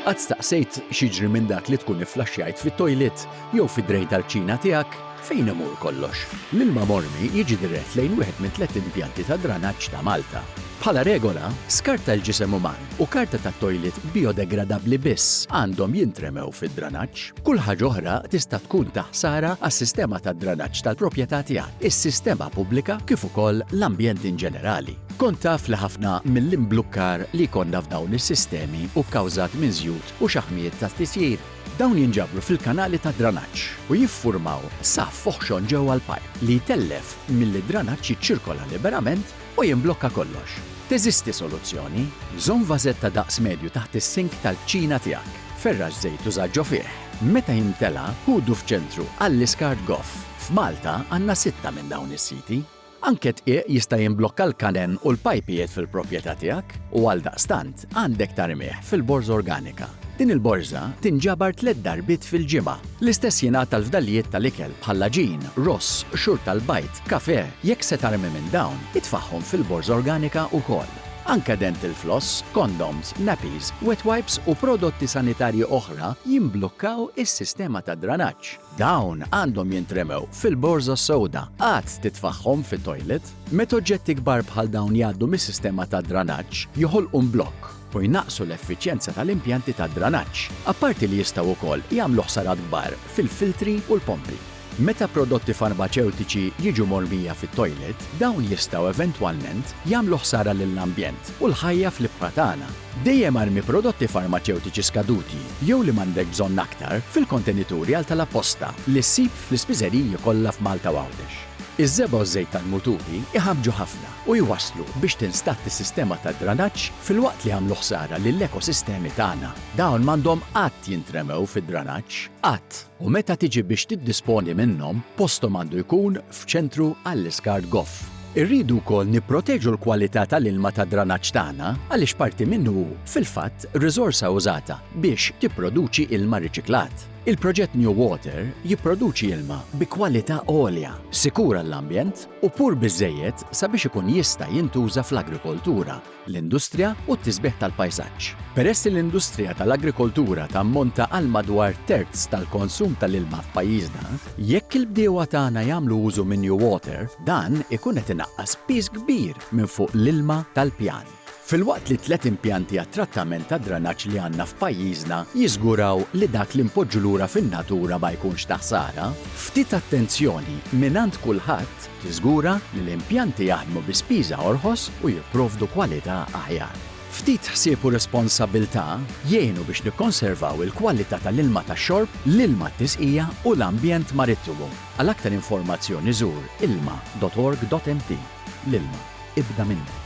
Qatt staqsejt x'jiġri minn dak li tkun ifflaxxjajt fit-toilet jew fid-drej tal-kċina tiegħek? Fejn imur kollox? L-ilma mormi jiġi dirett lejn wieħed minn tliet impjanti ta' dranaġġ ta' Malta. Bħala regola, skart tal-ġisem uman u karta tat-toilet bijodegradabbli biss għandhom jintremew fid-dranaġġ. Kull ħaġa oħra tista' tkun ta' ħsara għas-sistema tad-dranaġġ tal-proprjetà tiegħek, is-sistema pubblika kif ukoll l-ambjent inġenerali. Kont taf li ħafna mill-imblukkar li jkollna f'dawn is-sistemi hu kkawżat minn żjut u xaħmijiet tat-tisjir? Dawn jinġabru fil-kanali tad-dranaġġ u jiffurmaw saff oħxon ġewwa l-pajp li jtellef milli d-dranaġġ jiċċirkola liberament u jimblokka kollox. Teżisti soluzzjoni? Żomm vażett ta' daqs medju taħt is-sink tal-kċina tiegħek. Ferrax żejt u żagġġo fih. Meta jimtela, ħudu f'ċentru għall-iskart goff. F'Malta għandna sitta minn dawn is-siti. Anke dqiq jista' jimblokka l-kanen u l-pajpijiet fil-proprjetà tiegħek u għaldaqstant għandek tarmih fil-borża organika. Din il-borża tinġabar tliet darbiet fil-ġimgħa. L-istess jingħad għall-fdalijiet tal-ikel bħall-għaġin, ross, qxur tal-bajd, kafè, jekk se tarmi minn dawn, itfagħhom fil-borża organika wkoll. Anke dental floss, kondoms, nappies, wet wipes u prodotti sanitarji oħra jimblukkaw is-sistema tad-dranaġġ. Dawn għandhom jintremew fil-borża sewda. Qatt titfagħhom fit-toilet. Meta oġġetti kbar bħal dawn jgħaddu mis-sistema tad-dranaġġ, joħolqu mblokk u jnaqqsu l-effiċjenza tal-impjanti tad-dranaġġ, apparti li jistgħu wkoll jagħmlu ħsarat kbar fil-filtri u l-pompi. Meta prodotti farmaċewtiċi jiġu mormija fit-toilet, dawn jistgħu eventwalment jagħmlu ħsara lill-ambjent u l-ħajja fl-ibħra tagħna. Dejjem armi prodotti farmaċewtiċi skaduti jew li m'għandek bżonn aktar fil-kontenituri għal talab posta li ssib fl-ispiżeriji kollha f'Malta u Għawdex. Iż-żebgħa u ż-żejt tal-muturi jħabbġu ħafna u jwasslu biex tinstadd is-sistema tad-dranaġġ filwaqt li jagħmlu ħsara lill-ekosistemi tagħna. Dawn m'għandhom qatt jintremew fid-dranaġġ, qatt, u meta tiġi biex tiddisponi minnhom, posthom għandu jkun f'ċentru għall-iskart goff. Irridu wkoll nipproteġu l-kwalità tal-ilma tad-dranaġġ tagħna għaliex parti minnu hu, fil-fatt, riżorsa użata biex tipproduċi ilma riċiklat. Il-proġett New Water jipproduċi ilma bi kwalità għolja, sikur għall-ambjent u pur biżżejjed sabiex ikun jista' jintuża fl-agrikoltura. l-industrija u t-tisbiħ tal-pajsaġġ. Peress li l-industrija tal-agrikoltura tammonta għal madwar terz tal-konsum tal-ilma f'pajjiżna, jekk il-bdiewa tagħna jagħmlu użu minn NewWater, dan ikun qed inaqqas piż kbir minn fuq l-ilma tal-pjan. Filwaqt li t-tliet impjanti għat-trattament tad-dranaġġ li għandna f'pajjiżna jiżguraw li dak li npoġġu lura fin-natura ma jkunx ta' ħsara, ftit attenzjoni mingħand kulħadd, Tiżgura li l-impjanti jaħdmu bi spiża orħos u jipprovdu kwalità aħjar. Ftit ħsieb u responsabbiltà jgħinu biex nikkonservaw il-kwalità tal-ilma tax-xorb, l-ilma t-tisqija u l-ambjent marittimu. Għal aktar informazzjoni żur ilma dot org dot mt. L-ilma, ibda minnek.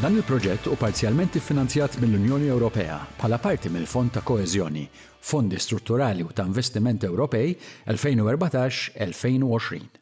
Dan il-proġett hu parzjalment iffinanzjat mill-Unjoni Ewropea bħala parti mill-Fond ta' Koeżjoni Fondi Strutturali u ta' Investiment Ewropej 2014-2020.